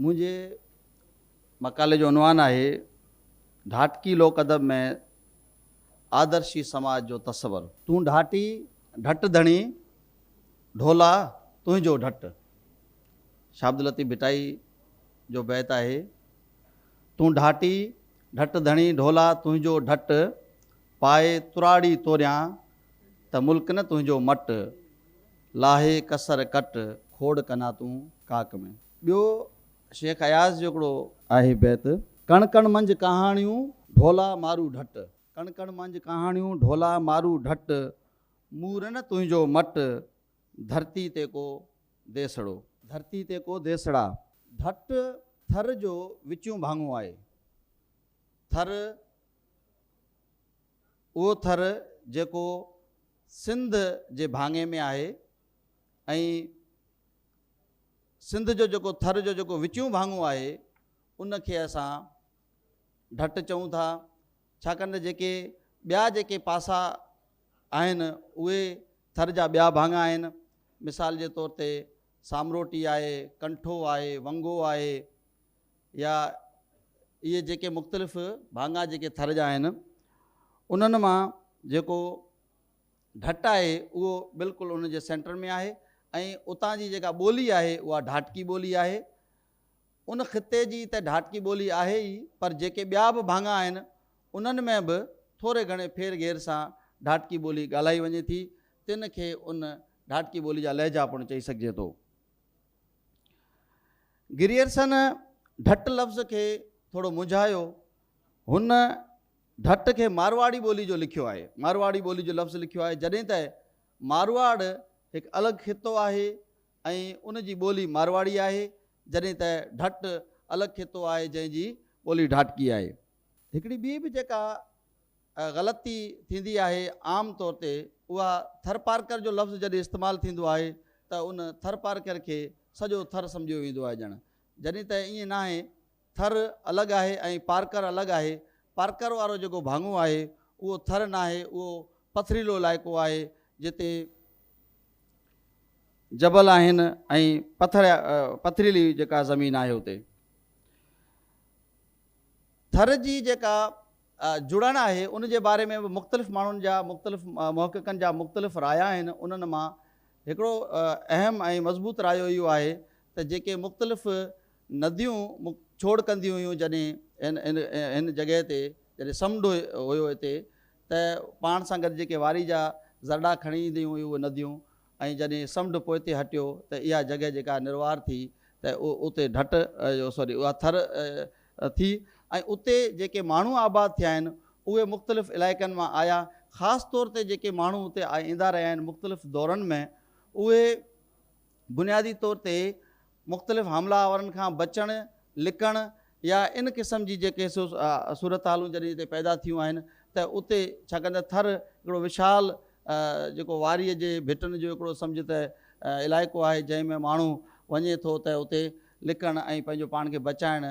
منهنجي مقالي جو عنوان آهي، ڍاٽڪي لوڪ ادب ۾ آدرشي سماج جو تصور. تون ڍاٽي ڍٽ ڌڻي، ڍولا تنهنجو ڍٽ. شاهه عبداللطيف ڀٽائي جو بيت آهي، تون ڍاٽي ڍٽ ڌڻي، ڍولا تنهنجو ڍٽ، پائي تراڙي توريان ته ملڪ نه تنهنجو مٽ، لاهي ڪسر ڪٽ، کوڙ ڪنا تون ڪاڪ ۾. ٻيو شيخ اياز جو هڪڙو آهي بيت. ڪڻ ڪڻ منجھ ڪهاڻيون ڍولا مارو ڍٽ. ڪڻ ڪڻ منجھ ڪهاڻيون ڍولا مارو ڍٽ. مورن تنهنجو مٽ ڌرتي تي ڪو ديسڙو. ڌرتي تي ڪو ديسڙا. ڍٽ ٿر جو وچيون ڀاڱو آهي. ٿر اهو ٿر جيڪو سنڌ جي ڀاڱي ۾ آهي ۽ سنڌ جو جيڪو ٿر جو جيڪو وچيون ڀاڱو آهي ان کي اسان ڍٽ چئون ٿا ڇاڪاڻ ته جيڪي ٻيا جيڪي پاسا آهن اهي ٿر جا ٻيا ڀاڱا آهن مثال جي طور تي سامروٽي آهي ڪنٺو آهي ونگو آهي يا اهي جيڪي مختلف ڀاڱا جيڪي ٿر جا آهن انهن مان جيڪو ڍٽ آهي اهو بلڪل ان جي سينٽر ۾ آهي ۽ اتان جي جيڪا ٻولي آهي اها ڍاٽڪي ٻولي آهي. ان خطي جي ته ڍاٽڪي ٻولي آهي ئي پر جيڪي ٻيا به ڀاڱا آهن انهن ۾ به ٿوري گهڻي ڦير گهير سان ڍاٽڪي ٻولي ڳالهائي وڃي ٿي تن کي ان ڍاٽڪي ٻولي جا لهجا پڻ چئي سگهجي ٿو. گريئرسن ڍٽ لفظ کي ٿورو منجهايو هن ڍٽ کي مارواڙي ٻولي جو لکيو آهي مارواڙي ٻولي جو لفظ لکيو آهي جڏهن ته مارواڙ هڪ الڳ خطو آهي ۽ ان جي ٻولي مارواڙي آهي جڏهن ته ڍٽ الڳ خطو آهي جنهن جي ٻولي ڍاٽڪي آهي. هڪڙي ٻي به جيڪا غلطي ٿيندي آهي عام طور تي اها ٿرپارڪر جو لفظ جڏهن استعمال ٿيندو آهي ته ان ٿرپارڪر کي سڄو ٿر سمجهيو ويندو آهي ڄڻ جڏهن ته ائين ناهي ٿر الڳ آهي ۽ پارڪر الڳ آهي. پارڪر وارو جيڪو ڀاڱو آهي اهو ٿر ناهي اهو پٿريلو علائقو آهي جتي جبل آهن ۽ پٿر پٿريلي جيڪا زمين آهي اتي ٿر جي جيڪا جڙڻ آهي ان جي باري ۾ به مختلف ماڻهن جا مختلف محققن جا مختلف رايا آهن انهن مان هڪڙو اهم ۽ مضبوط رايو اهو آهي ته جيڪي مختلف نديون منهن ڇوڙ ڪنديون هيون جڏهن هن هن هن جڳهه تي جڏهن سمنڊ هيو هتي ته پاڻ سان گڏ جيڪي واري جا ذرڙا کڻي اينديون هيون اهي نديون ۽ جڏهن سمنڊ پوئتي هٽيو ته اها جڳهه جيڪا نروار ٿي ته اتي ڍٽ سوري اها ٿر ٿي ۽ اتي جيڪي ماڻهو آباد ٿيا آهن اهي مختلف علائقن مان آيا خاص طور تي جيڪي ماڻهو اتي ايندا رهيا آهن مختلف دورن ۾ اهي بنيادي طور تي مختلف حملا آورن کان بچڻ، لڪڻ يا ان قسم جي جيڪي صورتحالون جڏهن اتي پيدا ٿيون آهن ته اتي ڇاڪاڻ ته ٿر هڪڙو وشال جيڪو واريء جي ڀٽن جو هڪڙو سمجهه ته علائقو آهي جنهن ۾ ماڻهو وڃي ٿو ته اتي لڪڻ ۽ پنهنجو پاڻ کي بچائڻ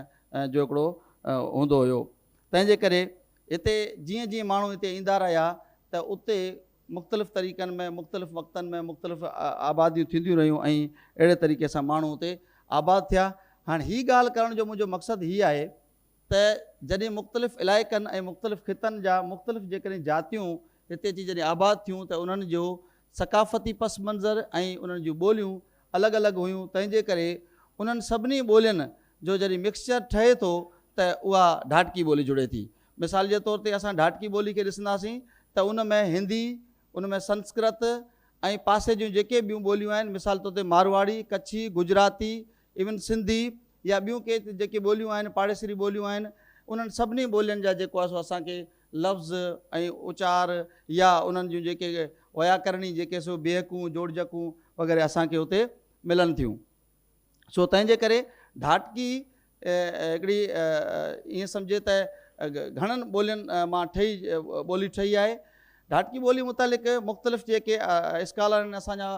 جو هڪڙو هوندو هيو تنهن جي ڪري هتي جيئن جيئن ماڻهو هتي ايندا رهيا ته اتي مختلف طريقن ۾ مختلف وقتن ۾ مختلف آباديون ٿينديون رهيون ۽ اهڙي طريقي سان ماڻهو اتي آباد ٿيا. هاڻ هي ڳالهه ڪرڻ جو منهنجو مقصد هي آهي ته جڏهن مختلف علائقن ۽ مختلف خطن جا مختلف جيڪڏهن جاتيون هتي اچي جڏهن آباد ٿيون ته انهن جو ثقافتي پس منظر ۽ انهن جون ٻوليون الڳ الڳ هيون تنهن جي ڪري انهن سڀني ٻولين جو جڏهن مڪسچر ٺهي ٿو ته اها ڍاٽڪي ٻولي جڙي ٿي مثال جي طور تي اسان ڍاٽڪي ٻولي کي ڏسنداسين ته ان ۾ هندي، ان ۾ سنسڪرت ۽ پاسي جون جيڪي ٻيون ٻوليون آهن مثال طور تي مارواڙي، ڪڇي، گجراتي، ايون سنڌي يا ٻيون ڪي جيڪي ٻوليون آهن پاڙيسري ٻوليون آهن انهن سڀني ٻولين جا جيڪو آهي سو اسان کي لفظ ۽ اچار يا انهن جون جيڪي وياڪرڻي جيڪي سو بيهڪون جوڙجڪون وغيره اسان کي اتي ملن ٿيون. سو تنهن جي ڪري ڍاٽڪي هڪڙي ائين سمجهي ته گهڻن ٻولين مان ٺهي ٻولي ٺهي آهي. ڍاٽڪي ٻولي متعلق مختلف جيڪي اسڪالر آهن اسان جا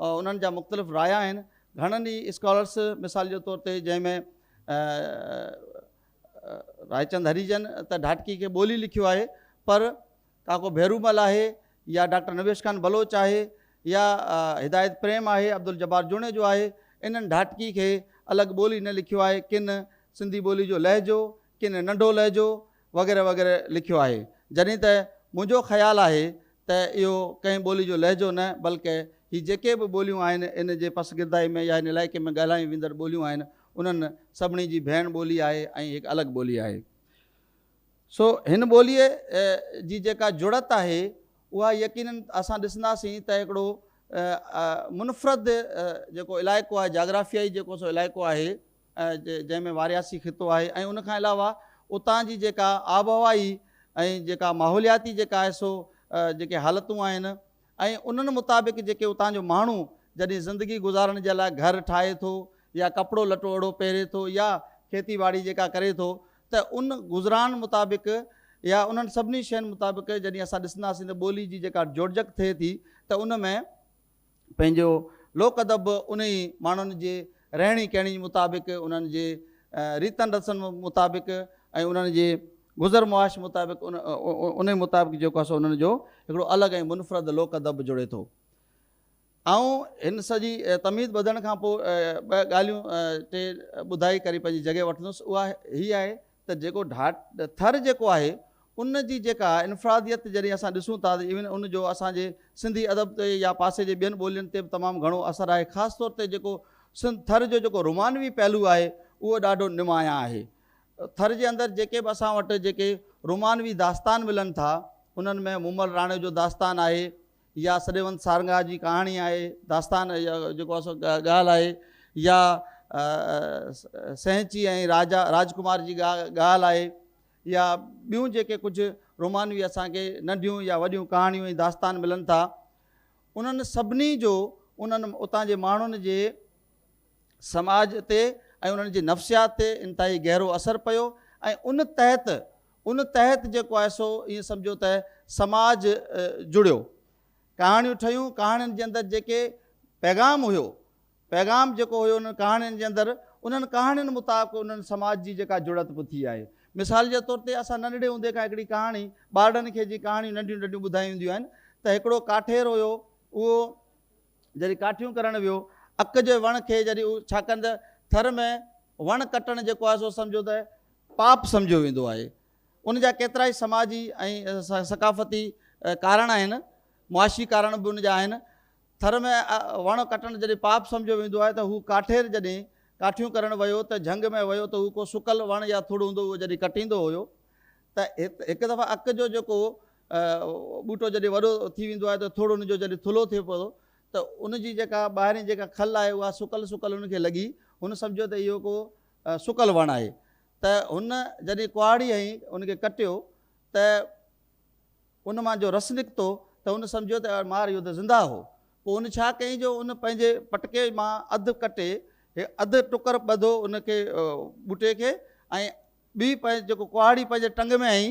انهن جا مختلف رايا آهن. گهڻن ئي اسڪالرس مثال جي طور تي جنهن ۾ رائچند هريجن ته ڍاٽڪي کي ٻولي لکيو آهي پر ڪاڪو ڀيرومل آهي يا ڊاڪٽر نويش خان بلوچ آهي يا هدايت پريم آهي عبدالجبار جوڻيجو آهي انهن ڍاٽڪي کي الڳ ٻولي نه لکيو آهي ڪن سنڌي ٻولي جو لهجو ڪن ننڍو لهجو وغيره وغيره لکيو آهي جڏهن ته منهنجو خيال آهي ته اهو ڪنهن ٻولي جو لهجو نه بلڪه هي جيڪي به ٻوليون آهن ان جي پسگردائي ۾ يا هن علائقي ۾ ڳالهايون ويندڙ ٻوليون آهن انهن سڀني جي ڀيڻ ٻولي آهي ۽ هڪ الڳ ٻولي آهي سو هن ٻوليء جي جيڪا جڙت آهي، اها يقيناً اسان ڏسنداسين ته هڪڙو منفرد جيڪو علائقو آهي، جاگرافيائي جيڪو سو علائقو آهي، جنهن ۾ وارياسي خطو آهي ۽ ان کان علاوه اتان جي جيڪا آبهوائي ۽ جيڪا ماحولياتي جيڪا آهي سو جيڪي حالتون آهن، ۽ انهن مطابق جيڪي اتان جو ماڻهو جڏهن زندگي گذارڻ جي لاء گهر ٺاهي ٿو يا ڪپڙو لٽو اڙو پهري ٿو يا کيتي ٻاڙي جيڪا ڪري ٿو ته ان گذران مطابق يا انهن سڀني شين مطابق جڏهن اسان ڏسنداسين ته ٻولي جي جيڪا جوڙجڪ ٿئي ٿي ته ان ۾ پنهنجو لوڪ ادب به انهي ماڻهن جي رهڻي ڪهڻي مطابق انهن جي ريتن رسن مطابق ۽ انهن جي گذر معاش مطابق ان انهي مطابق جيڪو آهي سو انهن جو هڪڙو الڳ ۽ منفرد لوڪ ادب جڙي ٿو. آئون هن سڄي تمهيد ٻڌڻ کان پوء ٻه ڳالهيون ٽي ٻڌائي ڪري پنهنجي جڳهه وٺندس اها هي آهي ته جيڪو ڍاٽ ٿر جيڪو آهي ان جي جيڪا انفراديت جڏهن اسان ڏسون ٿا ته ايون ان جو اسان جي سنڌي ادب تي يا پاسي جي ٻين ٻولين تي به تمام گهڻو اثر آهي خاص طور تي جيڪو سنڌ ٿر جو جيڪو رومانوي پهلو آهي اهو ڏاڍو نمايان آهي ٿر جي اندر جيڪي به اسان وٽ جيڪي رومانوي داستان ملن ٿا انهن ۾ مومل راڻي جو داستان آهي يا سڏيوند سارنگا جي ڪهاڻي آهي داستان جيڪو اسو ڳالهه آهي يا سهنچي ۽ راجا راجڪمار جي ڳالهه آهي يا ٻيون جيڪي ڪجهه رومانوي اسان کي ننڍيون يا وڏيون ڪهاڻيون ۽ داستان ملن ٿا انهن سڀني جو انهن اتان جي ماڻهن جي سماج تي ۽ انهن جي نفسيات تي انتهائي گهرو اثر پيو ۽ ان تحت ان تحت جيڪو آهي سو ائين سمجهو ته سماج جڙيو. ڪهاڻيون ٺهيون، ڪهاڻين جي اندر جيڪي پيغام هيو، پيغام جيڪو هيو انهن ڪهاڻين جي اندر، انهن ڪهاڻين مطابق انهن سماج جي جيڪا جڙت به ٿي آهي. مثال جي طور تي اسان ننڍڙي هوندي کان هڪڙي ڪهاڻي ٻارڙن کي جي ڪهاڻيون ننڍيون ننڍيون ٻڌايون وينديون آهن ته هڪڙو ڪاٺير هيو اهو، جڏهن ڪاٺيون ڪرڻ ويو، اڪ جي وڻ کي جڏهن اهو ڇاڪنده ٿر ۾ وڻ ڪٽڻ جيڪو آهي سو سمجهو ته پاپ سمجهيو ويندو آهي. ان جا ڪيترائي سماجي ۽ ثقافتي ڪارڻ آهن، معاشي ڪارڻ به ان جا آهن. ٿر ۾ وڻ ڪٽڻ جڏهن پاپ سمجهيو ويندو آهي ته هو ڪاٺير جڏهن ڪاٺيون ڪرڻ ويو ته جهنگ ۾ ويو ته هو ڪو سڪل وڻ يا ٿڙ هوندو هو جڏهن ڪٽيندو هيو ته هڪ دفعا اڪ جو جيڪو ٻوٽو جڏهن وڏو ٿي ويندو آهي ته ٿڙ ان جو جڏهن ٿلهو ٿئي پوندو ته ان جي جيڪا ٻاهرين جيڪا کل آهي اها سڪل سڪل ان کي لڳي هن سمجهيو ته اهو ڪو سڪل وڻ آهي ته هن جڏهن ڪهاڙي هنئي ان کي ڪٽيو ته ان مان جو رس نڪتو ته هن سمجهيو ته مار اهو ته زنده هو پوء هن ڇا ڪيائين جو ان پنهنجي پٽڪي مان اڌ ڪٽي اڌ ٽڪر ٻڌو ان کي ٻوٽي کي ۽ ٻي پنهنجي جيڪو ڪهاڙي پنهنجي ٽنگ ۾ هنئي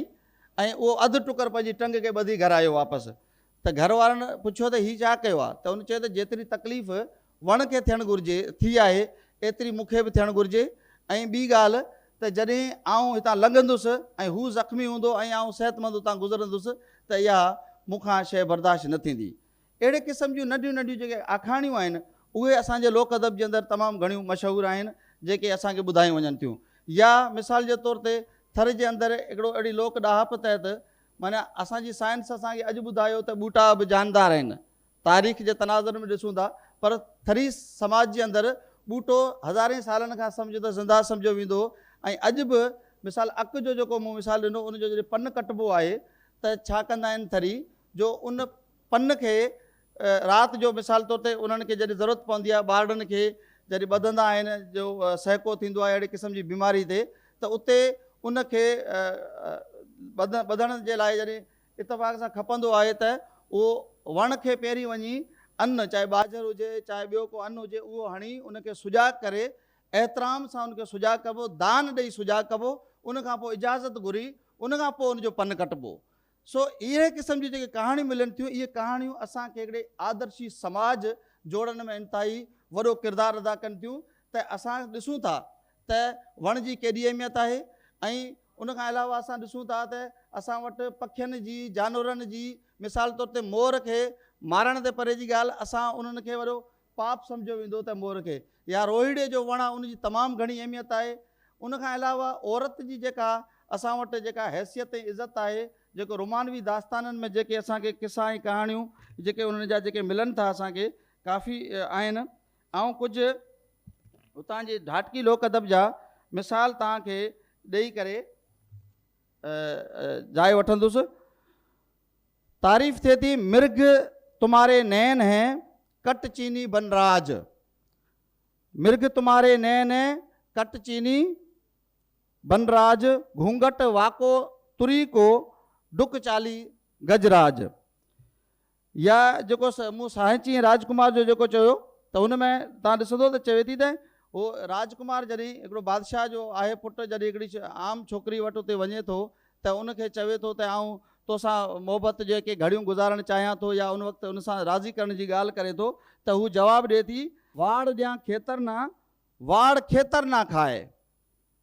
۽ اهو اڌ ٽڪر پنهنجي ٽنگ کي ٻڌي گهر آيو واپس ته گهر وارن پڇيو ته هي ڇا ڪيو آهي ته ان چيو ته جيتري تڪليف وڻ کي ٿيڻ گهرجي ٿي آهي ايتري مون کي به ٿيڻ گهرجي ۽ ٻي ڳالهه ته جڏهن آئون هتان لنگهندس ۽ هو زخمي هوندو ۽ آئون صحتمند هتان گذرندس ته اها مون کان شيء برداشت نه ٿيندي اهڙي قسم جون ننڍيون ننڍيون جيڪي آکاڻيون آهن اهي اسان جي لوڪ ادب جي اندر تمام گهڻيون مشهور آهن جيڪي اسان کي ٻڌايون وڃن ٿيون يا مثال جي طور تي ٿر جي اندر هڪڙو اهڙي لوڪ ڏاهپ تحت معنيٰ اسان جي سائنس اسان کي اڄ ٻڌايو ته ٻوٽا به جاندار آهن تاريخ جي تناظر ۾ ڏسون ٿا پر ٿري سماج جي اندر ٻوٽو هزارين سالن کان سمجهه ته زنده سمجهيو ويندو هو ۽ اڄ به مثال اک جو جيڪو مون مثال ڏنو ان جو جڏهن پن ڪٽبو آهي ته ڇا ڪندا آهن ٿري جو ان پن کي رات جو مثال طور تي انهن کي جڏهن ضرورت پوندي آهي ٻارڙن کي جڏهن ٻڌندا آهن جو سهڪو ٿيندو آهي اهڙي قسم جي بيماري تي ته اتي ان کي ٻڌڻ جي لاء جڏهن اتفاق سان کپندو آهي ته اهو وڻ کي پهرين وڃي ان چاهي ٻاجهر هجي چاهي ٻيو ڪو ان هجي اهو هڻي ان کي سجاڳ ڪري احترام سان ان کي سجاڳ ڪبو دان ڏئي سجاڳ ڪبو ان کان پوء اجازت گهري ان کان پوء ان جو پن ڪٽبو سو اهڙي قسم جون جيڪي ڪهاڻيون ملن ٿيون، اهي ڪهاڻيون اسان کي هڪڙي آدرشي سماج جوڙڻ ۾ انتهائي وڏو ڪردار ادا ڪن ٿيون ته اسان ڏسون ٿا ته وڻ جي ڪيڏي اهميت آهي ۽ ان کان علاوه اسان ڏسون ٿا ته اسان وٽ پکين جي، جانورن جي مثال طور تي مور کي مارڻ تي پري جي ڳالهه اسان انهن کي وڏو پاپ سمجهيو ويندو ته مور کي يا روهيڙي جو وڻ آهي ان جي تمام گهڻي اهميت آهي ان کان علاوه عورت جي جيڪا اسان وٽ جيڪا حيثيت ۽ عزت آهي جيڪو رومانوي داستانن ۾ جيڪي اسان کي قصا ۽ ڪهاڻيون جيڪي انهن جا جيڪي ملن ٿا اسان کي ڪافي آهن آئون ڪجهه اتان جي ڍاٽڪي لوڪ ادب جا مثال توهان کي ڏئي ڪري جاء وٺندس تعريف ٿئي ٿي مرگ تمهاري نين هين ڪٽ چيني بن راج مرگ تمهاري نين ڪٽ چيني بن راج گهونگهٽ واڪو تري ڪو ڊڪ چالي گج راج يا جيڪو مون ساهي چين راج ڪمار جو جيڪو چيو ته هن ۾ تان ڏسندو ته چوي ٿي ته هو راج ڪمار جڏهن هڪڙو بادشاهه جو آهي پٽ جڏهن هڪڙي عام ڇوڪري وٽ اتي وڃي ٿو ته ان کي چوي ٿو ته آئون تو سان محبت جون ڪي گهڙيون گذارڻ چاهيان ٿو يا ان وقت ان سان راضي ڪرڻ جي ڳالهه ڪري ٿو ته هو جواب ڏئي ٿي، واڙ ڏيان کيتر نه، واڙ کيتر نه کائي.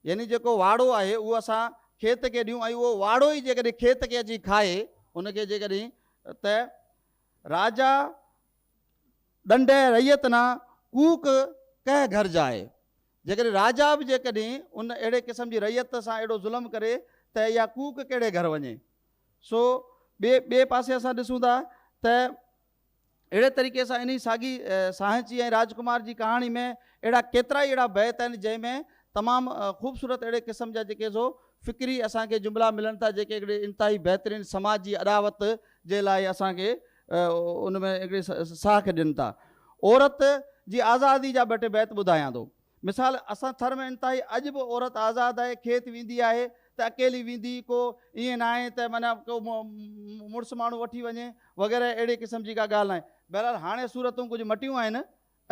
يعني جيڪو واڙو آهي اهو اسان کيت کي ڏيون ۽ اهو واڙو ئي جيڪڏهن کيت کي اچي کائي ان کي جيڪڏهن ته راجا ڏنڊئي رعيت نه ڪوڪ ڪهه گهر جائي. جيڪڏهن راجا به جيڪڏهن ان اهڙي قسم جي رعيت سان اهڙو ظلم ڪري ته اها ڪوڪ ڪهڙي گهر وڃي؟ سو ٻئي ٻئي پاسي اسان ڏسون ٿا ته اهڙي طريقي سان انهي ساڳي سانحچي ۽ راجڪمار جي ڪهاڻي ۾ اهڙا ڪيترائي اهڙا بيت آهن جنهن ۾ تمام خوبصورت اهڙي قسم جا جيڪي سو فڪري اسان کي جملا ملن ٿا جيڪي هڪڙي انتهائي بهترين سماجي اڏاوت جي لاء اسان کي ان ۾ هڪڙي ساهه کي ڏين ٿا. عورت جي آزادي جا ٻه ٽي بيت ٻڌايان ٿو. مثال، اسان ٿر ۾ انتهائي اڄ به عورت آزاد آهي، کيت ويندي آهي ته اڪيلي ويندي، ڪو ائين ناهي ته معنيٰ ڪو مڙس ماڻهو وٺي وڃي وغيره اهڙي قسم جي ڪا ڳالهه ناهي. بهرحال هاڻي صورتون ڪجهه مٽيون آهن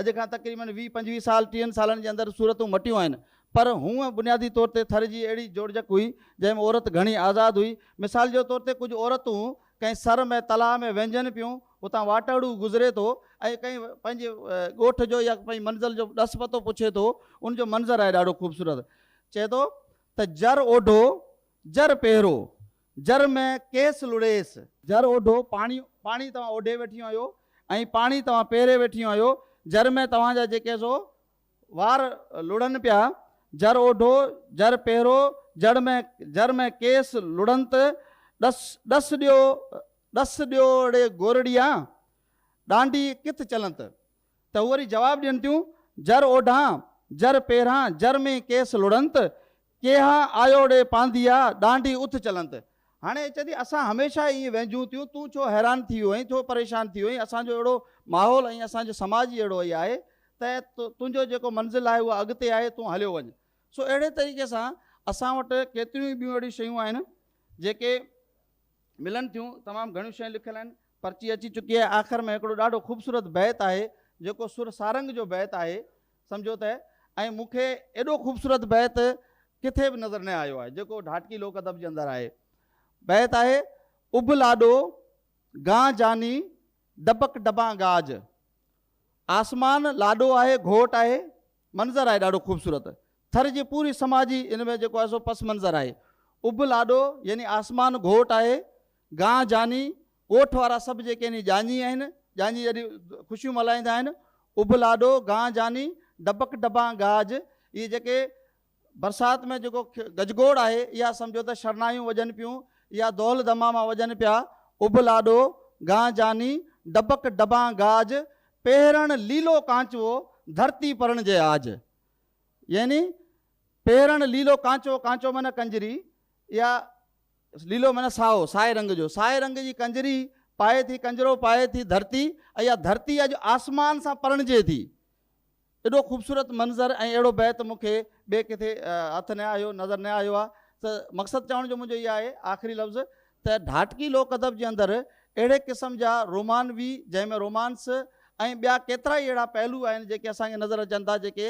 اڄ کان تقريبن ويهه پنجويهه سال ٽيهن سالن جي اندر صورتون مٽيون آهن پر هونء بنيادي طور تي ٿر جي اهڙي جوڙجڪ هئي جنهن ۾ عورت گهڻي آزاد هئي مثال جي طور تي ڪجهه عورتون ڪنهن سر ۾ تلاء ۾ وهنجن پيون اتان واٽهڙو گذري ٿو ۽ ڪنهن پنهنجي ڳوٺ جو يا پنهنجي منزل جو ڏس پتو پڇي ٿو ان جو منظر آهي ڏاڍو خوبصورت چئي ٿو ته جر اوڍو جر پهرو جر ۾ ڪيس لڙيس. جر اوڍو، پاڻي، پاڻي توهان اوڍي ويٺيون آهيو ۽ پاڻي توهان پيري ويٺيون آهيو، جر ۾ توهان جا جيڪي سو وار لڙن پيا، جر اوڍو، جر پيرو، جر ۾ جر ۾ ڪيس لڙنت، ڏس، ڏس ڏيو، ڏس ڏيو ڙي گورڙيا، ڏانڊي ڪٿ چلنت؟ ته هو وري جواب ڏين ٿيون، جر اوڍان، جر پيران، جر ۾ ڪيس لڙنت، ڪيها آيو ڙي پانڌيا، ڏانڍي اٿ چلنت. هاڻي چوي ٿي اسان هميشه ائين وهنجون ٿيون، تون ڇو حيران ٿي ويو آهين، ڇو پريشان ٿي ويو آهين، اسان جو اهڙو ماحول ۽ اسان جو سماج ئي اهڙو ئي آهي ته تنهنجو جيڪو منزل آهي اها اڳتي آهي، تون هليو وڃ. سو اهڙي طريقي سان اسان وٽ ڪيتريون ئي ٻيون اهڙيون شيون آهن جيڪي ملن ٿيون، تمام گهڻيون شيون لکيل آهن، پرچي اچي چڪي آهي، آخر ۾ هڪڙو ڏاڍو خوبصورت بيت آهي جيڪو سر سارنگ جو بيت آهي. سمجهو ته ۽ مون کي ايڏو خوبصورت بيت ڪٿي به نظر نه آيو آهي جيڪو ڍاٽڪي لوڪ ادب جي اندر آهي. بيت آهي، اڀ لاڏو گان جاني ڊٻڪ ڊٻان گاج. آسمان لاڏو آهي گهوٽ آهي منظر آهي ڏاڍو خوبصورت ٿر جي پوري سماجي ان ۾ جيڪو آهي سو پس منظر آهي. اڀ لاڏو يعني آسمان گهوٽ آهي گان جاني ڳوٺ وارا سڀ جيڪي هني ڄاڃي آهن، ڄاڃي جڏهن خوشيون ملهائيندا آهن، اڀ لاڏو، گان جاني، ڊٻڪ ڊٻان گاج، اهي جيڪي برسات ۾ جيڪو گجگوڙ آهي، اها سمجهو ته شرنايون وڄن پيون، اها دول دماما وڄن پيا، اڀ لاڏو، گان جاني، ڊٻڪ ڊٻان گاج، پهرڻ ليلو ڪانچوو، ڌرتي پرڻجي آج. يعني پهرڻ ليلو ڪانچوو، ڪانچوو معنيٰ ڪنجري، اها. ليلو معنيٰ سائو، سائي رنگ جو. سائي رنگ جي ڪنجري پائي ٿي، ڪنجرو پائي ٿي ڌرتي ۽ اها ڌرتي اڄ آسمان سان پرڻجي ٿي. ايڏو خوبصورت منظر ۽ اهڙو بيت مون کي ٻئي ڪٿي هٿ نه آيو، نظر نه آيو آهي ته مقصد چوڻ جو منهنجو اهي آهي آخري لفظ ته ڍاٽڪي لوڪ ادب جي اندر اهڙي قسم جا رومانوي جنهن ۾ رومانس ۽ ٻيا ڪيترائي اهڙا پهلو آهن جيڪي اسان کي نظر اچن ٿا جيڪي